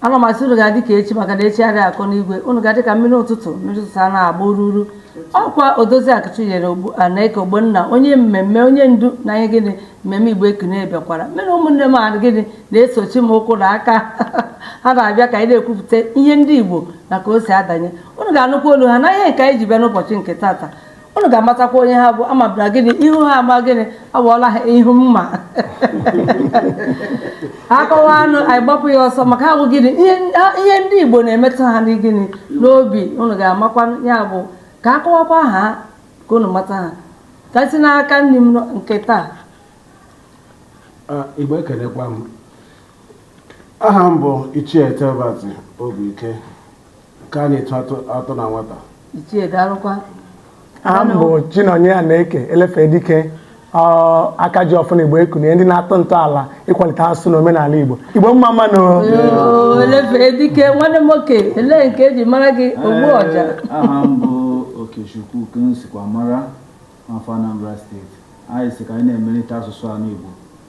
ana m asị unu ga-adị ka echi maka na echi adịghị akọ n'igwe unu ga-adị ka mmiri ụtụtụ mmiri ụtụtụ a na-agba ururu ọ kwa odoziakụ chinyere anaeke ogbonna onye mmemme onye ndu na ihe gịnị mmemme igbo ekene bịakwara m unu ụmụnne m a gịnị na-esochi m ụkwụ na aka ha na-abịa ka anyị na-ekwupụta ihe ndị igbo na ka o si adanye unu ga-anụkwa olu ha na ihe nke anyị ji bịa n'ụbọchị nke tata unu ga-amatakwa onye ha bụ amabara gịnị ihu ha ama gịnị awụọla ha ihu mma akọwa anụ anyị gbapụ ya ọsọ maka ha bụ gịnị ihe ndị Igbo na-emetụ ha na gịnị n'obi unu ga-amakwa ya bụ ka akọwakwa ha ka unu mata ha ka esi n'aka nri m nke taa Igbo ekelekwa m aha m bụ Ichie Telbert Obiike ka a na-etu atọ na nwata ichie daalụkwa aha m bụ chinonye anaeke elefe dike ọ, aka ji ọfọ na igbo ekunie ndị na-atọ ntọala ịkwalite asụsụ na omenala igbo igbo mma mma nụ Oo, elefee dike nwanne m nwoke elee nke eji mara gị ogbu ọja Ee, aha m bụ okechukwu ka m sikwa mara afọ anambra steeti anyị si ka anyị na-emelite asụsụ ala igbo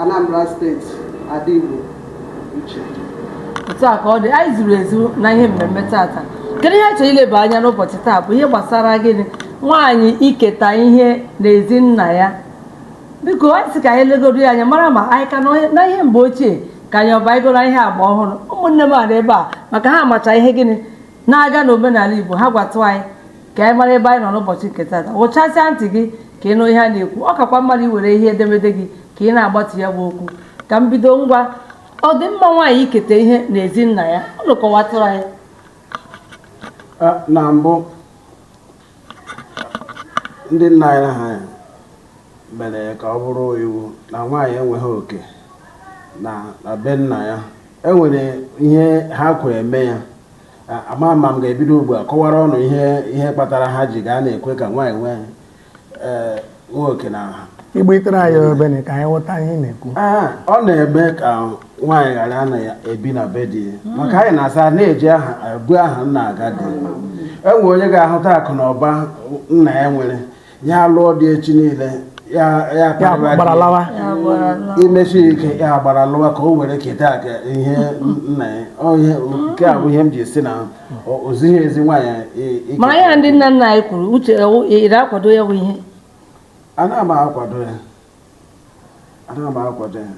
Anambra steeti ada Igbo uche otu a ka ọ dị anyị zuru ezu na ihe mmemme tata kedu ihe a chọrọ ileba anya n'ụbọchị taa bụ ihe gbasara gịnị nwaanyị iketa ihe n'ezi nna ya biko anyị sị ka anyị legoro ya anya mara ma anyị ka nọ n'ihe mgbe ochie ka anyị abanyegoro ihe agba ọhụrụ ụmụnne m a nọ ebe a maka ha amacha ihe gịnị na-aga n'omenala Igbo ha gwatụ anyị ka anyị mara ebe anyị nọ n'ụbọchị nke tata wụchasịa ntị gị ka ị nụ ihe a na-ekwu ọ kakwa mma iwere ihe edemede gị ka ị na-agbatu ya bụ okwu ka m bido ngwa ọ dị mma nwaanyị iketa ihe n'ezi nna ya unu kọwatụrụ anyị na mbụ ndị nna anyị ha mere ka ọ bụrụ iwu na nwaanyị enweghị oke na be nna ya enwere ihe ha ji were mee ya ama ama m ga-ebido ugbu a kọwara unu ihe ihe kpatara ha ji ghara na-ekwe ka nwaanyị nwee eh, nwee oke na ha igbo itere anyị obere ka anyị ghọta ihe ị na-ekwu Ee, ọ na-eme ka nwaanyị ghara na-ebi na be di ya maka anyị na-asị na-eji aha ebu aha nna aga di o nwe onye ga-ahụta akụ na ụba nna ya nwere ya lụọ di echi niile ya ya gbara lawa emesịa ya gbara lawa ka o were ketakwa ihe nna ya nke a bụ ihe m ji si na ozighi ezi nwaanyị ike mara ya ndị nna nna anyị kwuru uche ị na-akwado ya bụ ihe ana m akwado ya ana m akwado ya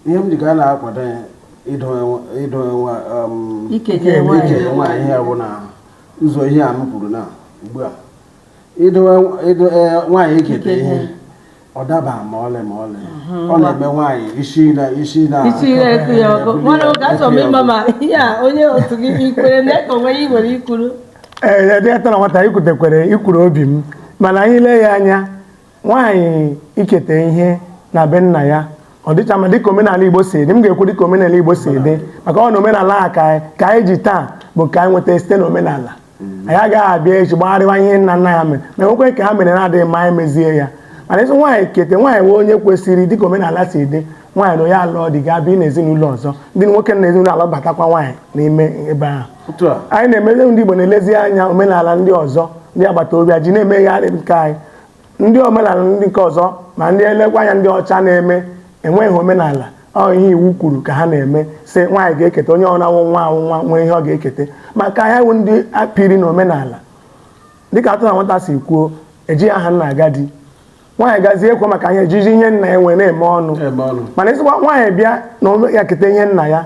ihe m ji ga na-akwado ya idowe um, ike nwaanyị ya bụ na ụzọ ihe a m kwuru na ugbu a ịdụ nwaanyị eketa ihe ọ daba ma ọlị ma ọlị ọ na-eme nwaanyị isi na isi na isi na ekpo ya ọkụ mana oge achọ m ịma ma ihe a onye otu gị ikwere na eke onwe ya ị nwere ikwuru ee dị atọ na nwata ikwutekwere ikwuru obi m mana anyị lee ya anya nwaanyị iketa ihe na be nna ya ọ dịcha mma dịka omenala igbo si dị m ga-ekwu dịka omenala igbo si dị maka na omenala a nke anyị ji taa bụ nke anyị nweta site na omenala anyị agaghị abịa echi gbagharịwa ihe nna nna anyị mere ma e nwekwe nke ha mere na-adịghị mma anyị mezie ya mana ịsị nwaanyị kete nwaanyị wụ onye kwesịrị dịka omenala si dị nwaanyị na onye alụọ di ga bịa n'ezinụlọ ọzọ ndị nwoke na ezinụlọ alụbatakwa nwaanyị n'ime ebe ahụ otu a anyị na-emezi ndị Igbo na-elezi anya omenala ndị ọzọ ndị agbata obi ji na-emegharị nke anyị ndị omenala ndị nke ọzọ ma ndị elekwa anya ndị ọcha na-eme enweghị omenala ọ ihe iwu kwuru ka ha na-eme sị nwaanyị ga-eketa onye ọna wụ nwa wụ nwa nwere ihe ọ ga-eketa maka anyị wụ ndị a pịrị na omenala dịka atụ na nwata si kwuo ejighị aha nna aga di nwaanyị gazie kwuo maka ihe ejiji ihe nna ya nwee na-eme ọnụ mana ịsịkwa nwaanyị bịa na ya keta ihe nna ya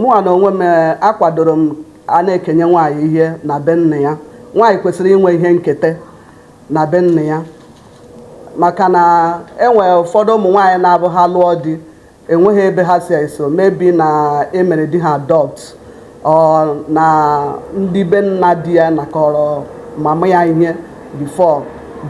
mụnwa na onwe m eh, akwadoro m a na-ekenye nwaanyị ihe na be nna ya nwaanyị kwesịrị inwe ihe nketa na be nna ya maka na enwere ụfọdụ ụmụ nwaanyị na-abụ ha lụọ di enweghị ebe ha si eso maybe na e mere di ha adopt or na ndị be nna di ya nakọrọ mama ya ihe before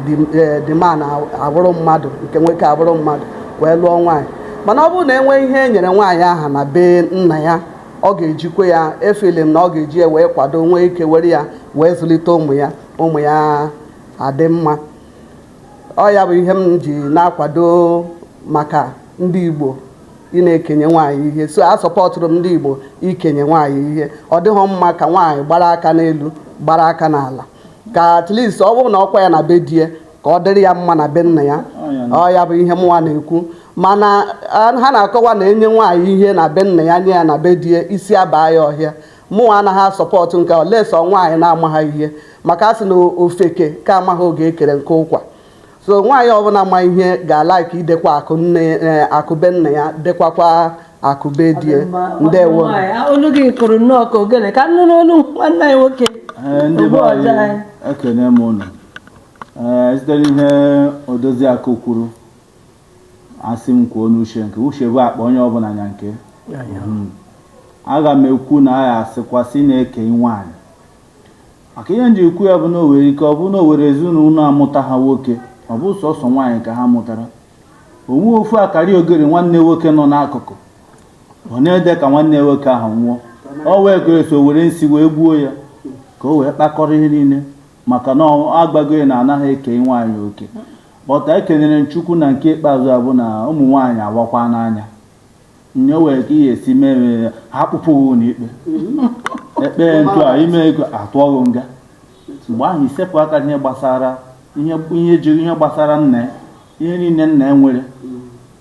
the eh, the man a- abụrụ mmadụ nke nwoke abụrụ mmadụ wee lụọ nwaanyị mana ọ bụrụ na e nwee ihe e nyere nwaanyị ahụ na be nna ya ọ ga-ejikwa ya efeel na ọ ga-eji ya wee kwado nwee ike were ya wee zụlite ụmụ ya ụmụ ya adị mma ọ ya bụ ihe m ji na-akwado maka ndị Igbo ị na-ekenye nwaanyị ihe so asupportụrụ m ndị Igbo ikenye nwaanyị ihe ọ dịghị mma ka nwaanyị gbara aka n'elu gbara aka n'ala ka at least ọ bụrụ na ọ kwaa ya na be di ya ka ọ dịrị ya mma na be nna ya ọ ya bụ ihe mụnwa na-ekwu mana ha na-akọwa na e nye nwaanyị ihe na be nna ya nye ya na be di ya isi abaa ya ọhịa mụnwa anaghị asupport nke a unless ọ nwaanyị na-amaghị ihe maka a sị na ofeke ka amaghị oge e kere nkụ ụkwa so nwaanyị ọbụla ma ihe ga-alike idekwa akụ nne eh, akụ be nna ya dekwakwa akụ be di ya ndewo olu gị kụrụ nnọọ ka ogene ka m nụ n'olu nwanne anyị nwoke eh, ndị be anyị ekene m ụnụ eh, site n'ihe odozi akụ kwuru asị m kwuo n'uche nke uche bụ akpa onye ọbụla nya nke hmm. aga m ekwu na a ya-asịkwa sị na-eke nwaanyị maka ihe m ji ekwu ya bụ na o nwere ike ọ bụrụ na o nwere ezinụlọ amụtaha nwoke ọ bụ sọsọ nwaanyị ka ha mụtara o nwee ofu akarịogeri nwanne nwoke nọ n'akụkụ ọ na-ede ka nwanne nwoke ahụ nwụọ o nwee ike iso were nsi wee gbuo ya ka o wee kpakọrọ ihe niile maka na agwago ya na anaghị eke nwaanyị oke but ekenyere m chukwu na nke ikpeazụ a bụ na ụmụ nwaanyị awakwana anya onye o nwee ka ihe si mee ya ha kpụpụ gị ụlọ ikpe ekpee ntụ a ime ego a tụọ gị nga mgbe ahụ i sepụ aka ihe gbasara ihe jiri ihe gbasara nna ya ihe niile nna ya nwere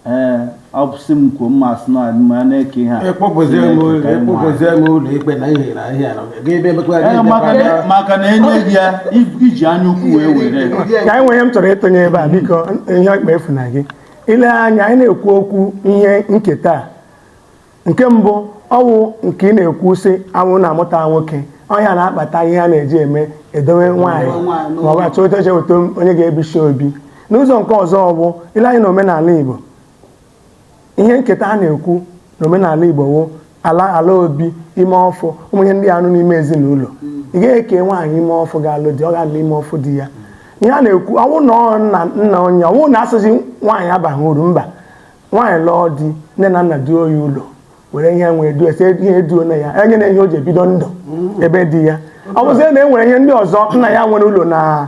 ee ọ bụ sị m kwuo mma asị na ma na-eke ihe a maka na e nye gị ya i ji anya ukwu wee were ka anyị nwere ihe m chọrọ ịtụnye ebe a biko ihe ọkpa efu na gị ile anya anyị na-ekwu okwu ihe nketa a nke mbụ ọ wụ nke ị na-ekwu sị a wụ na amụta nwoke ọ ya na-akpata ihe a na-eji eme idowe nwaanyị ma ọ bụ achọ oche weta onye ga-ebichi obi n'ụzọ nke ọzọ ọ bụ ile anya na omenala Igbo ihe nketa a na-ekwu na omenala Igbo wụ ala ala obi ime ọfụ ụmụ ihe ndị a nọ n'ime ezinụlọ ị ga-eke nwaanyị ime ọfụ ga-alụ di ọ ga-anọ ime ọfụ di ya ihe a na-ekwu ọ wụ na ọ nna nna onye ọ wụ na asịzi nwaanyị abaghị uru mba nwaanyị lụọ di nne na nna duo ya ụlọ were ihe nwee duo a sị e duona ya e nyena ya ihe o ji ebido ndụ ebe di ya ọ bụzie na e nwere ihe ndị ọzọ nna ya nwere ụlọ na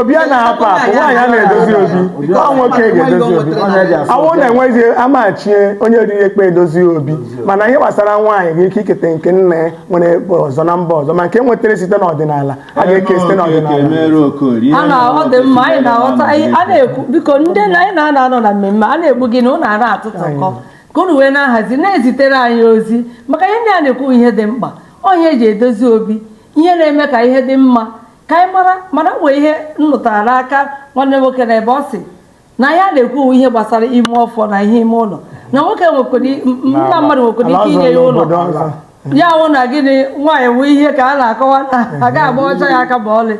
obi ana-apụ apụ nwaanyị ana-edozi obi ọ nwoke ga-edozi obi a wụ na enwezi ama echie onye riri ekpe edozie obi mana ihe gbasara nwaanyị ga-eke iketa nke nna ya nwere ebe ọzọ na mba ọzọ ma nke nwetara site n'ọdịnala a ga-eke site n'ọdịnala ọ dị mma anyị na-aghọta a na-ekwu biko ndị anyị na ha nọ na mmemme a na-egbu gị na ụnụ na-atụtụkọ ka unu wee na-ahazi na-ezitere anyị ozi maka ihe ndị a na-ekwu ihe dị mkpa onye eji edozi obi ihe na-eme ka ihe dị mma ka anyị mara mana nwee ihe m nụtara n'aka nwanne nwoke na ebe ọ sị na ya na-ekwu ihe gbasara ime ọfọ na ihe ime ụlọ na nwoke nwekwara nna mmadụ nwekwara ike inye ya ụlọ ya wụ na gịnị nwaanyị wụ ihe ka a na-akọwa na aga agbacha ya aka ma ọlị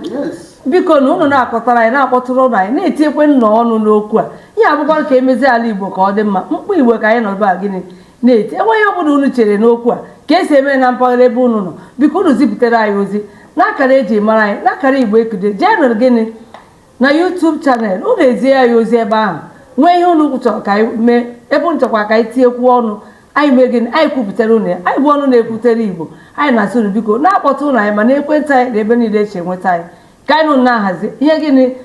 biko na ụnụ na-akọtara anyị na-akpọtụrụnụ anyị na-etinyekwanụ ọnụ n'okwu a ihe a bụkwa ka emezie ala igbo ka ọ dị mma mkpu igbo ka anyị nọ ebe a gịnị na-eti e nwee ihe ọ bụla unu chere n'okwu a ka esi eme na mpaghara ebe unu nọ biko unu zipụtara anyị ozi n'akara eji mara anyị n'akara igbo ekulie jee nụrụ gịnị na YouTube channel unu ezie anyị ozi ebe ahụ nwee ihe unu chọrọ ka anyị mee ebe unu chọkwa ka anyị tinyekwuo ọnụ anyị mee gịnị anyị kwupụtara unu ya anyị bụ ọnụ na-ekwutere igbo anyị na-asị unu biko na-akpọtụnụ anyị ma na ekwentị anyị na ebe niile e shi enweta anyị ka anyị na unu na-ahazi ihe gịnị